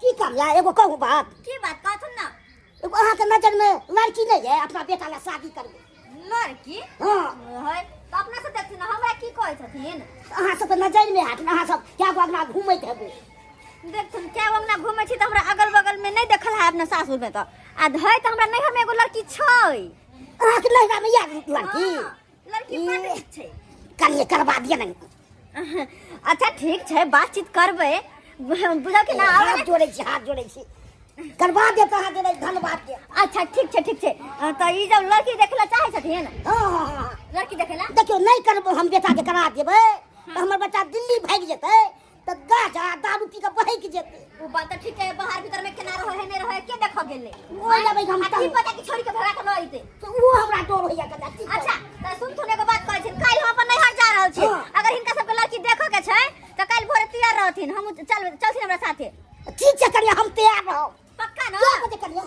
की करला एगो कहू बात की बात कहथुन ना एगो अहाँ के नजर में लड़की नहीं है अपना बेटा ला शादी करबे लड़की हाँ है तो अपना से देखथिन हमरा की कहै छथिन अहाँ सब के नजर में हाथ अहाँ सब क्या गो अंगना घूमैत हेबै देखथुन क्या वो अंगना घूमै छी तऽ हमरा अगल बगल में नहीं देखल है अपना सासुर में तऽ आ धै तऽ हमरा नैहर में एगो लड़की छै अहाँ के नैहरा में याद लड़की हाँ। लड़की पढ़ ठीक छै कनिए करबा दिए ने अच्छा ठीक छै बातचीत करबै बुझल कि ना आवे हाथ जोड़े छी हाथ जोड़े छी करबा दे तो हाथ जोड़े धन्यवाद के अच्छा ठीक छै ठीक छै अ, तऽ ई जब लड़की देखला चाहै छथिन हाँ हाँ हाँ, हाँ लड़की देखला देखियो नहीं करबो हम बेटा के करा देबे तो हमर बच्चा दिल्ली भाग जेतै तऽ गाछ आ दारू पी कऽ बहैक जेतै ओ बात तऽ ठीक है बाहर भीतर में केना रहो है नहीं रहो है के देखो गेले ओहि लबै हम आ की पता कि छोड़ी के भगा के न अइते तऽ ओ हमरा डर होइया कदा की अच्छा तऽ सुन थोने एगो बात कहै छिन काल्हि हम अपन नैहर जा रहल छी हाँ। अगर हिनका सबके लड़की देखो के छै तऽ काल्हि भोरे तैयार रहथिन हम चल चलथिन हमरा साथे ठीक छै कनिया हम तैयार रहब पक्का न क्या बजे कनिया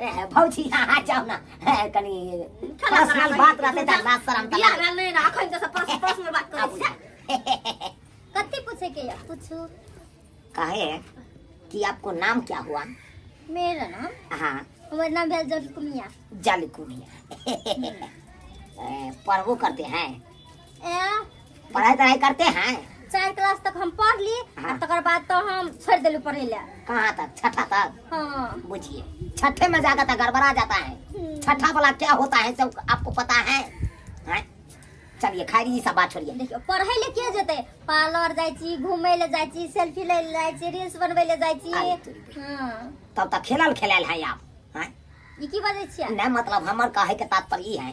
ए भौजी अहाँ जाउ ना ए, कनी खाना पर्सनल खराब बात रहतै तऽ ना शरम तऽ बियाह भेल नहि ने अखन तऽ सब पर्स- पर्सनल बात करै छै कथी पूछे के या पूछू कहे कि आपको नाम क्या हुआ मेरा नाम हाँ हमारा नाम भेल जलकुमिया जालकुनिया पढ़बो करते हैं ए पढ़ाई तढ़ाई करते हैं चार क्लास तक हम पढ़ ली आ हाँ। तकर बाद तो हम छोड़ देलू पढ़े ले कहाँ तक छठा तक हाँ बुझिए छठे में जाकर तो गड़बड़ा जाता है हम्म। छठा वाला क्या होता है सब आपको पता है हैं? चलिए खैरी ई सब बात छोड़िए देखियो पढ़े ले के जेते पार्लर जाय छी घूमे ले जाय छी सेल्फी ले जाय छी रील्स बनवे ले जाय छी अरे तोरी के। हाँ तब तक खेलल खेलल है आप हैं? ई की बाजै छियै नहीं मतलब हमर कहे के तात्पर्य ई है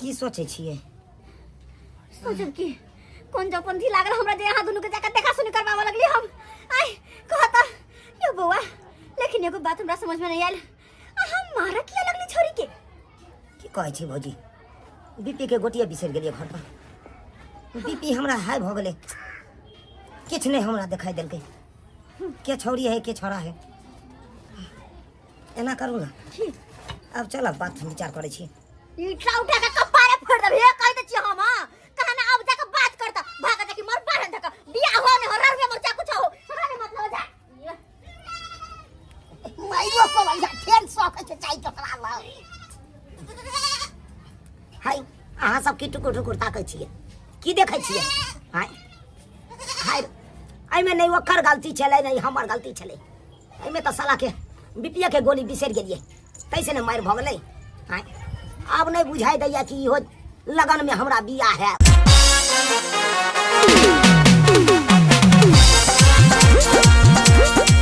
की सोचै छियै सोचब की कोन जब पंथी लागल हमरा जे अहाँ दुनू के जाकर देखा सुनी करबाबऽ लगली हम आय कहत यो बौआ लेकिन एगो बात हमरा समझ में नहीं आयल अहाँ मारा किया लगली छोरी के की कहै छी भौजी बीपी के गोटिया बिसरि गेलियै घर पर बीपी हमरा हाई भऽ गेलै किछु नहि हमरा देखाइ देलकै के छौरी है के छौड़ा है एना करू ने की अब चलब बात हम विचार करै छी ईटा उठा के कपारे फोड़ देब हे कहि दै छी हम हाँ। कहाँ ने अब जाके बात कर त भाग जा कि मोर बाहर धक बियाह हो ने हो रर में मोर जा कुछ हो हमरा ने मतलब जा माइयो को लग जा फेर सौख के चाय टोकरा ला हाय अहाँ सब की टुकुर टुकुर ताकै छियै की देखै छियै हाय हाय एहिमे नहि ओकर गलती छलै नहि हमर गलती छलै एहिमे तऽ सालाके बीपीए के गोली बिसरि गेलियै कैसे ने मारि भऽ गेलै आँय आब नहि बुझाइ दैया कि इहो लगनमे हमरा बिया हैत